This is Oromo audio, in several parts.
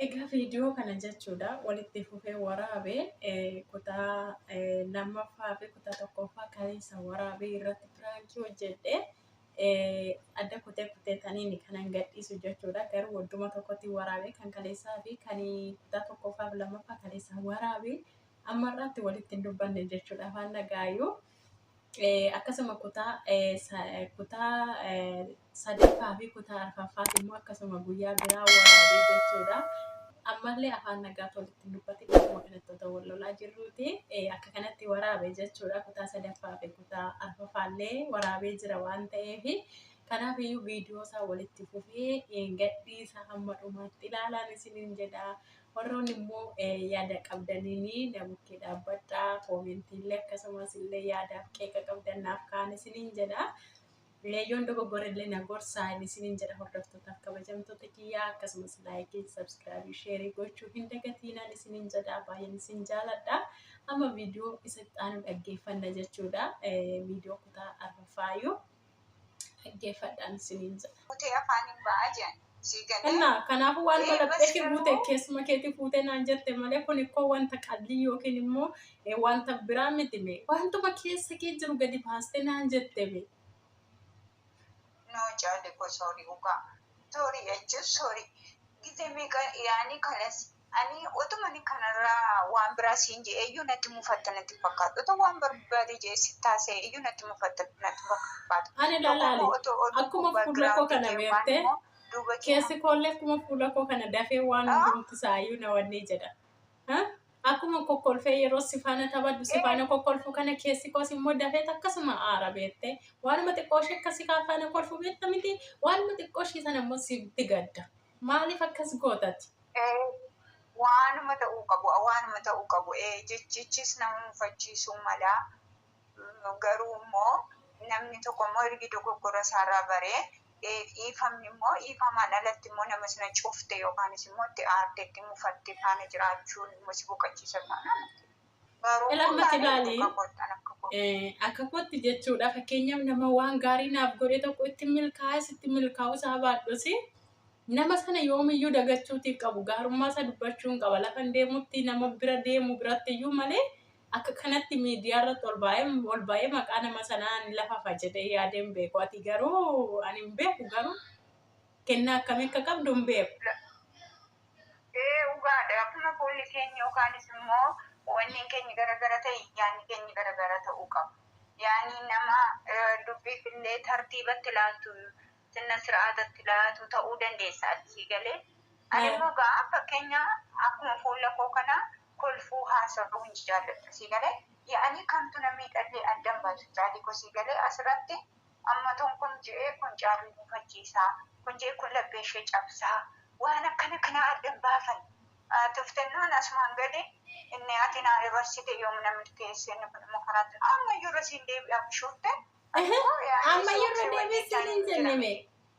Egaa viidiyoo kana jechuudha walitti fufee waraabee eh, kutaa eh, lammaffaa fi kutaa tokkoffaa kaleessa waraabee irratti piraankii hojjedhe eh, adda kutee kutee taniin kanan gadhiisu jechuudha garuu wadduma tokkotti waraabee kan kaleessaa fi kan kutaa tokkoffaa fi lammaffaa kaleessa waraabee Amma irraatti walitti hin dubbanne jechuudha afaan nagaayyuu. Akkasuma kutaa kutaa sadaffaa fi kutaa arfaffaas immoo akkasuma guyyaa biraa waraabee jechuudha. Ammallee afaan nagaatti walitti hin dubbatin akkuma kanatti otoo wal lolaa jirruuti akka kanatti waraabe jechuudha. Kutaa sadaffaa fi kutaa arfaffaallee waraabee jira waan ta'eef kanaaf iyyuu viidiyoo isaa walitti fufee gadhiisa hamma dhumaatti ilaalaan isiniin jedha. Warroonni immoo yaada qabdaniin na bukkee dhaabbadhaa. Koomentii illee akkasumas illee yaadaaf qeeqa qabdan naaf ka'aa isiniin jedha. Yoon dogoggore illee na gorsaa isiniin jedha hordoftootaaf kabajamtoota kiyyaa akkasumas laayikii, sabskraabii, sheerii gochuu hin dagatiinaan isiniin jedha baay'een isin jaaladha. Amma viidiyoo isa itti aanu dhaggeeffanna jechuudha. Viidiyoo kutaa arfaffaayyuu. dhaggeeffadhaan isiniin jedha. Guutee afaaniin ba'a jedhan. Sii galee. Kennaa kanaafuu waan Ee, kadhatteef bas fuute garuu- keessuma keetii fuutee naan jette malee kun ikkoo wanta qallii yookiin immoo eh, wanta biraa miti mee wantuma keessa kee jiru gadi baastee naan jette mee. No jaalli koo sorry dhugaa. Sorry jechuun sorry. Gizee meeqa yaani kanas Ani otumani kanarra waan biraa siin je'eeyyuu natti mufatta natti hin fakkaatu. Otoo waan barbaade je'ee sitti haasa'eeyyuu natti mufatta natti hin fakkaatu. Ani Tokko laali, immoo otoo oduun akkuma kun fuula koo background kana kee waan beerte, immoo duuba kee keessi koollee akkuma fuula koo kana dafee waan Ah. hundumti isaayyuu na wannee jedha. Ha? Akkuma kokkolfee yeroo si faana taphadhu, si Eh. faana kokkolfu kana keessi koos immoo dafeet akkasuma aara beettee. Waanuma xiqqoo ishee akka si kaa faana kolfu beetta miti, waanuma xiqqoo ishee sana immoo sitti gadda. Maaliif akkas gootati? Ee, waanuma ta'uu qabu, waanuma ta'uu qabu, ee, jechichis nama mufachiisuu mala, garuu immoo namni tokko immoo ergi dogoggora isaarraa baree, ee, dhiifamni immoo, dhiifamaan alatti immoo nama sana cufte yookaanis immoo itti aarte, itti mufatte faana jiraachuun immoo si boqachiisa taanaan, Ilaamatti ilaali. Akka kootti jechuudha. Fakkeenyaaf nama waan gaarii naaf godhe tokko itti milkaa'es itti milkaa'uu isaa baadhus nama sana yoomiyyuu dagachuutii qabu gaarummaa isaa dubbachuun qaba. Lafan deemutti nama bira deemu biratti iyyuu malee akka kanatti miidiyaa irratti ol baay'ee ol baay'ee maqaa nama sanaa ni lafafa jedhee yaadeen beeku. Ati garuu ani hin beeku garuu kennaa akkamii akka qabdu hin beeku. Ee dhugaadha akkuma fuulli keenya yookaanis immoo onneen keenya garagara ta'e yaanni keenya garagara ta'uu qaba. Yaanni nama eh, dubbiif illee tartiibatti laatu sinna sir'aatatti laatu ta'uu dandeessa ati sii galee. Ani Eh. immoo gaa fakkeenya akkuma fuula koo kana kolfuu haasa'uu hin jaalladhu sii galee. Yaa'anii kamtu na miidhallee addan baasu caalii koo sii galee asirratti Amma tun kun je'ee kun Jaarrii mufachiisa, kun je'ee kun lapheeshee cabsa, waan akkana kana adda hin baafanne. Tuftennoon asumaan gadi inni ati naa dabarsite yoom na milkeesse inni kun immoo karaa itti ammayyuu irra siin deebi'a bishoofte ani immoo Ehe, yaa'ii ammayyuu irra soofee deebi'ee siin wajjichaan hin hin jenne jira. mee?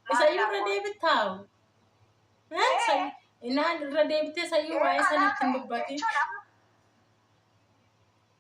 Maal Isayyuu irra naaf deebitaawu? Eh, Ee, say- Inaan irra deebitee sayyuu waa'ee sana ittiin dubbatiin. jechuun amma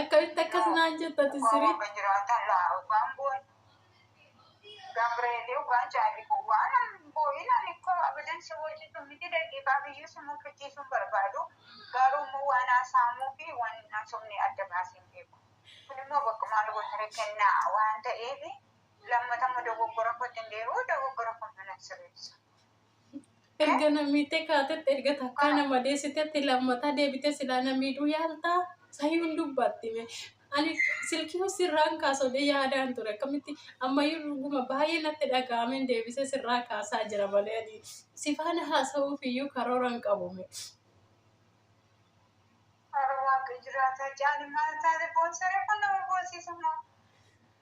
Akkamitti akkas naan jettati sirii? Gomba jiraatan laa waan boon Gabreelii waan jaali kun waan boo'inaan ikkoo abadan si wajjin miti daqiiqaa biyyuu si mufachiisuun barbaadu garuu immoo waan haasaamuu fi waan hin haasofne adda baaseen beeku. Kun immoo bakka maal gootare kenna waan ta'eef lammata immoo dogoggora kootti hin deebi'u dogoggora kun mana sirreessa. Erga namiittee kaatetti erga takkaa nama deessitetti lammataa deebitee silaa na miidhuu yaaltaa? Sayyuun dubbattime. Ani silkii sirraan kaasodee yaadaan ture akkamitti ammayyuu dhuguma baay'ee natti dhaga'ameen deebisee sirraa kaasaa jira malee ani si faana haasa'uuf iyyuu karoora hin qabume. Bara waaqa jiraataa jaani maal taate boonsaree kun nama boonsiisa moo?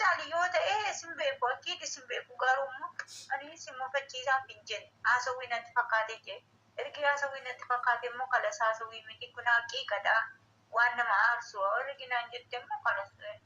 Caalii yoo ta'e isin beeku akkiin isin beeku garuu immoo ani isin mufachiisaaf hin jenne haasawwii natti fakkaate jee ergi haasawwii natti fakkaate immoo kalas haasawwii miti kun haqiiqadha waan nama aarsu ergi naan jette immoo kalas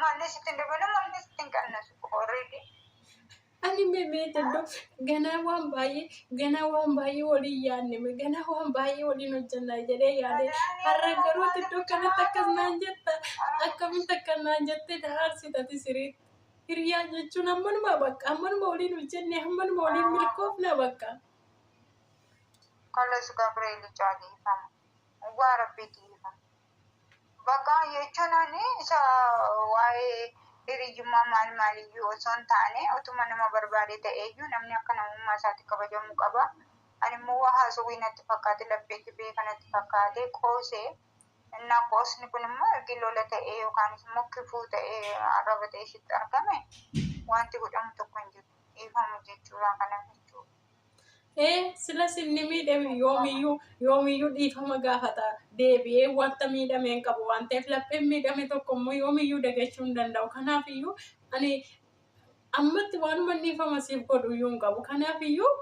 Maallee sitti hin dabalu maallee sitti hin qannasu already. Ani mee dandoo ganaa waan baay'ee ganaa waan baay'ee waliin yaadne ganaa waan baay'ee waliin hojjannaa jedhee yaade har'a garuu iddoo kanatti akkas naan jetta akkamitti akka naan jettee daarsitati siriitti. Hiriyaa jechuun ammanuma bakka ammanuma waliin hojjenne ammanuma waliin milkoofna bakka. Kallas Gabriel Caaliifama. Waa Rabbiitii ifama. Bakka jechuun ani isa waa'ee hiriyyummaa maal maaliyyuu osoo hin taane utuma nama barbaade ta'eeyyuu namni akka namummaa isaatti kabajamuu qaba. Ani immoo waa haasawwii natti fakkaate laphee jibee kanatti fakkaate qoose. Innaa qoosni kun immoo ergi lola ta'ee yookaanis immoo kifuu ta'ee arraba ta'ee sitti argame wanti godhamu tokko hin jiru. Dhiifama jechuurraa kana jechuudha. Ee silas inni miidhame yoomiyyuu yoomiyyuu dhiifama gaafata deebi'ee wanta miidhame hin qabu waan ta'eef lapheen miidhame tokko immoo yoomiyyuu dagachuu hin danda'u. Kanaaf iyyuu ani ammatti waanuma dhiifama siif godhu iyyuu hin qabu. Kanaaf iyyuu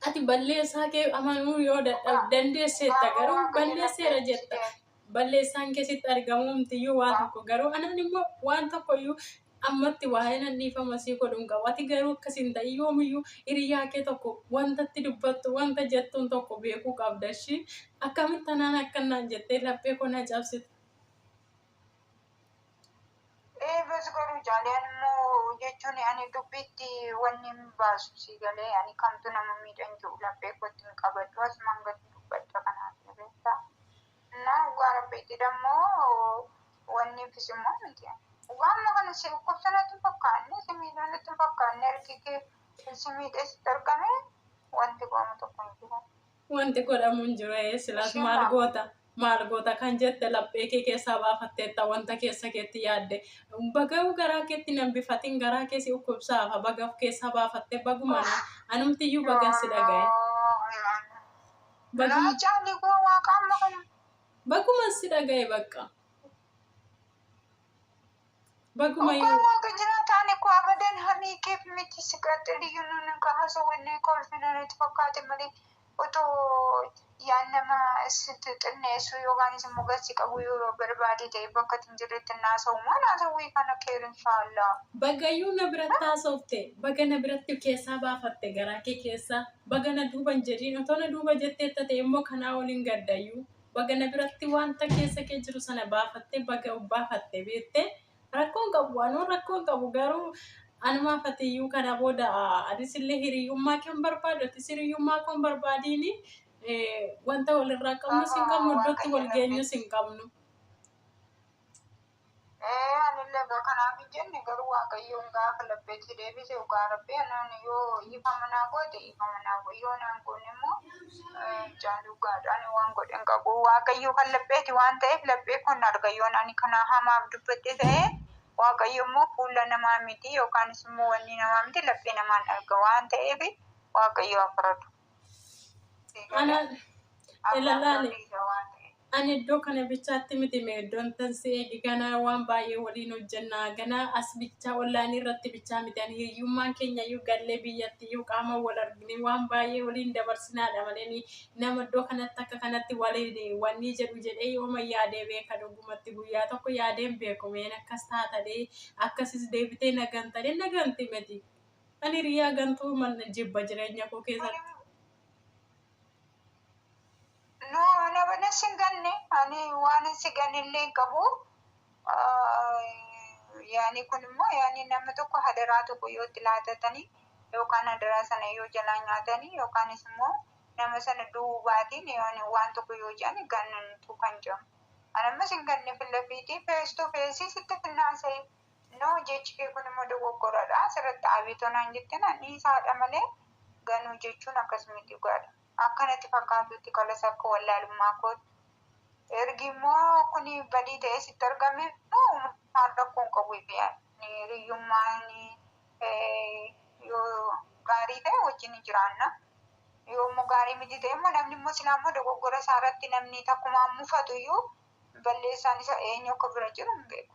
ati balleessaa kee amanuu yoo dadhabde dandeesseetta garuu balleesseera jetta balleessaan kee sitti argamuu mitiyyuu waa tokko garuu anaan immoo waan tokkoyyuu ammatti waa'ee nan dhiifama sii godhu hin qabu ati garuu akkas hin ta'i yoomiyyuu hiriyaa kee tokko wantatti dubbattu wanta jettuun tokko beekuu qabda ishii akkamitti anaan akkannaan jettee laphee koo na cabsite. Eebas godhu jaaleen immoo jechuun ani dubbiitti wanni hin baasu sii galee ani kamtu nama miidhan jiru laphee kootti hin qabadhu asumaan gadi dubbadha kanaaf ni beekta. Innaa dhugaa rabbiitti dammoo wanni fis immoo miti. Dhugaa amma kana si dhukkubsa natti hin fakkaanne si miidha natti hin fakkaanne harki kee si miidhee sitti argame wanti godhamu tokko hin jiru. Wanti godhamu hin jiru ee silaas Isheen maal laaf- goota maal goota kan jette laphee kee keessaa baafatteetta wanta keessa keetti yaadde bagayu garaa keetti hin hambifatin garaa kee si dhukkubsaafa baga of keessaa baafattee baguma na anumtiyyuu bagan si dhagaye Baguma- Naa jaalli koo waaqaa amma kana. baguman si dhagaye bakka. Baguma Dhugaa yoo waaqa jiraataan eku abadan hanii keef miti siqaxxiliyyuu nun ka haso wallii kolfi nanati fakkaate malee otoo yaan nama sitti xinneessu yookaan isin mogassi qabu yoo barbaade ta'e bakka itin jirretti hin haasa'u maan haasawwii kana keer inshaallaa. Bagayyuu na biratti haasofte baga na biratti keessaa baafatte garaa kee keessaa baga na duuba hin jedhiin otoo na duuba jetteetta ta'e immoo kanaa olin gaddayyuu. Baga na biratti wanta keessa kee jiru sana baafatte baga of baafatte beekte rakkoon qabu anuu rakkoon qabu garuu anumaaf atiyyuu kana booda anisillee hiriyyummaa kan barbaadu atis hiriyyummaa koon barbaadiini wanta walirraa qabnus hin qabnu iddootti wal geenyus hin qabnu. Ee, anillee egaa kanaaf hin jenne, garuu Waaqayyoon gaafa labbeetti deebise, dhugaa Rabbii anaan yoo dhiifama naa goote dhiifama naa godhi, yoo naan goone immoo mucaan dhugaadha, ani waan godhe hin qabu. Waaqayyo kan labbeeti waan ta'eef laphee koon arga, yoon ani kanaa hamaaf dubbadhe ta'e Waaqayyo immoo fuula namaa miti yookaanis immoo wanni namaa miti laphee namaan arga waan ta'eef Waaqayyo haa faradu. Ani iddoo kana bichaatti miti mee iddoon tan si eegi ganaa waan baay'ee waliin hojjenna ganaa as bichaa ollaanii irratti bichaa miti ani hiyyummaan keenya iyyuu gallee biyyatti iyyuu qaama wal argine waan baay'ee waliin dabarsinaadha malee nama iddoo kanatti akka kanatti waliin wanni jedhu jedhee yooma yaadee beeka dhugumatti guyyaa tokko yaadeen beeku meen akkas taatadhee akkasis deebitee nagan tadhee naganti miti. Ani hiriyaa gantuu man jibba jireenya koo keessatti. No, ana bana sin ganne. Ani waan hin si ganillee hin qabu. Ah, Yaani kun immoo yaani namni tokko hadaraa tokko yoo itti laatatanii yookaan hadaraa sana yoo jalaa nyaatanii yookaanis immoo nama sana du'uu baatiin yaani waan tokko yoo jedhan gannutu kan jedhamu. Ani ammas hin ganne fillafiitii fees to feesii sitti finnaan sa'ee. No jechi kee kun immoo dogoggoradha asirratti Abeetoo naan jette naan dhiisaadha malee Ganuu jechuun akkas miti dhugaadha. Akka natti fakkaatutti kalas akka wallaalummaa kootti ergi immoo kuni badii ta'ee sitti argame immoo uumamaan rakkoo hin qabu jedhee yaada. Hiriyyummaan yoo gaarii ta'e wajjin ni jiraanna. Yoo immoo gaarii miti ta'e immoo namni immoo silaa immoo dogoggora isaa irratti namni takkumaan mufatu iyyuu balleessaan isa eenyu akka bira jiru hin beeku.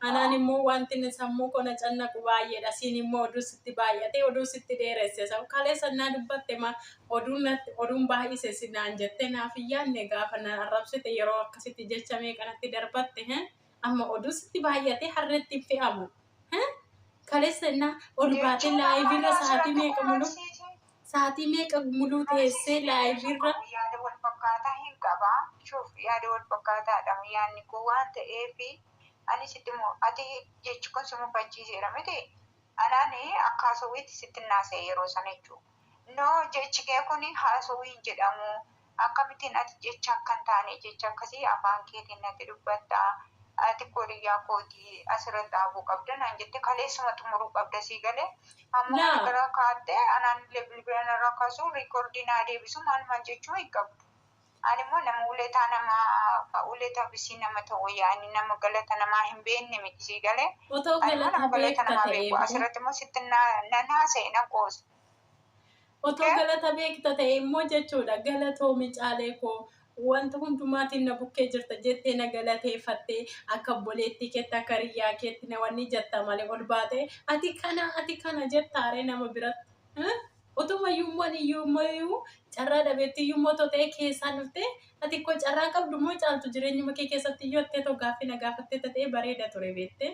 Anaan immoo wanti inni sammuu koo na cannaqu baay'eedha. Siin immoo oduu sitti baay'ate, oduu sitti dheeresse. Sa- Kaleessa naa dubbatte ma oduun natti- oduun baay'ise si naan jette naaf hin yaadne gaafa na arrabsite yeroo akkasitti jecha meeqa natti darbatte. he? Amma oduu sitti baay'ate harreetti hin fe'amu. he? Kaleessa innaa ol baatee Jechuun amma laayiviirra anaa sa'aatii asirratti meeqa muluu qunnamsiitiin sa'aatii meeqa muluu teessee qunnamsiitiin jechuun laayiviirra qabu yaada wal fakkaataa hin qabaa. Shuuf yaada wal fakkaataadha yaanni koo waan ta'eef Ani sitti mu, ate jechi kun si mufachiiseera miti? Anaan akka haasowiitti sittin haasa'e yeroo sana jechuu. No jechi kee kun haasowii hin jedhamu, akkamittiin ati jecha akka hin taane jecha akkasii afaan keetiin natti dubbatta? Ati koo hiriyyaa kooti asirratti dhaabuu qabda naan jette kaleessuma xumuruu qabda sii galee? Amma kana Laa. irraa kaattee anaan illee bilbila narraa kaasuu riikordii naa deebisuu maal maal jechuu hin qabdu. Ani immoo nama uletaa nama ka uleta bisii nama ta'u wayya ani nama galata namaa hin beekne miti sii galee Otoo ani immoo galata nama galata beekta namaa ta'ee beeku hoo? asirratti immoo sitti na- nan haasa'e nan qoosa Otoo Kee? galata beekta ta'e immoo jechuudha galatoomi caalee koo wanta hundumaatiin na bukkee jirta jettee na galateeffattee akka obboleettii keetti akka hiriyyaa keetti na wanni jetta malee ol baatee ati kana ati kana jettaaree nama biratti. Eh? Otuma iyyummoon iyyummoo carraa dhabeetti iyyummoo too ta'ee keessaan dhuftee ati koo carraa qabdu moo caaltu jireenyuma kee keessatti iyyuu attee too gaaffii na gaafattee ta'ee bareeda ture beettee.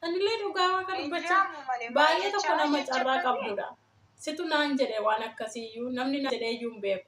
Anillee dhugaa waan kana dubbachaa baay'ee tokko nama carraa qabdudha. Situ naan jedhe waan akkasii iyyuu namni naan jedhee iyyuu hin beeku.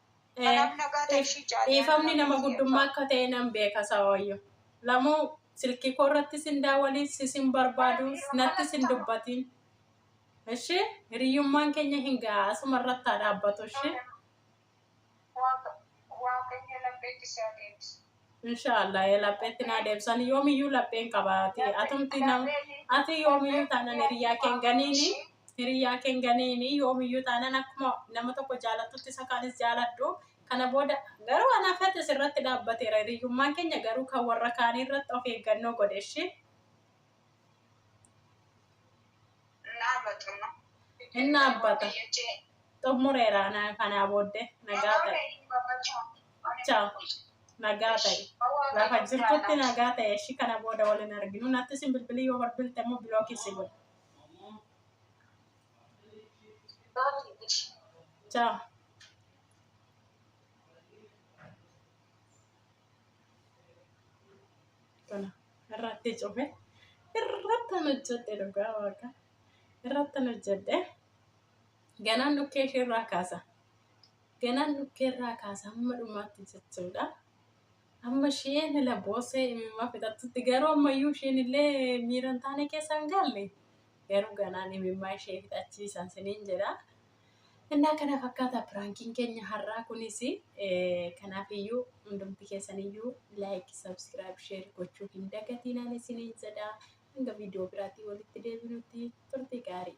Kanaaf nagaa ta'e ishii caalee. Dhiifamni nama guddummaa akka ta'e nan beeka saawayyo. Lamuu silkii koo irratti sin daawaliin si sin barbaadu natti sin dubbatiin. Ishi hiriyyummaan keenya hin ga'a asuma irratti haa dhaabbatu ishi. Waaqayyo lammeetti si haa deebisu. Inshaallah ee lapheetti naa deebsan yoomiyyuu lapheen qabaati atumti nam ati yoomiyyuu taanan hiriyyaa keen ganiini hiriyyaa keen ganiini yoomiyyuu taanan akkuma nama tokko jaalattutti isa kaanis jaaladhu kana booda garuu anaaf hatis irratti dhaabbateera hiriyyummaan keenya garuu kan warra kaanii irratti of eeggannoo godheshi. Hin dhaabbata. Xummureera kanaa booddee nagaa ta'e. Ciao. Nagaa ta'e. Lafa jirtutti nagaa ta'e ishii kana booda waliin arginu. Natti isin bilbilii yoo barbilte immoo bilookii si godhe. Ciao. Tana irratti cufe irratti hojjedhe dhugaa waaqa irratti hojjedhe ganaan dhukkee ishee irraa kaasa ganaan dhukkee irraa kaasa hamma dhumaatti jechuudha. Amma isheen ila boosee imimmaa fixattutti garuu ammayyuu isheen illee miira hin taane keessa hin galle garuu ganaan imimmaa ishee fixachiisan siniin jedha. Innaa kana fakkaata piraankiin keenya har'aa kunis kanaaf iyyuu hundumti keessan iyyuu laayik sabskiraayib sheer gochuu hin dagatiinaan isiniin jedha hanga viidiyoo biraatii walitti deebinutti turtii gaarii.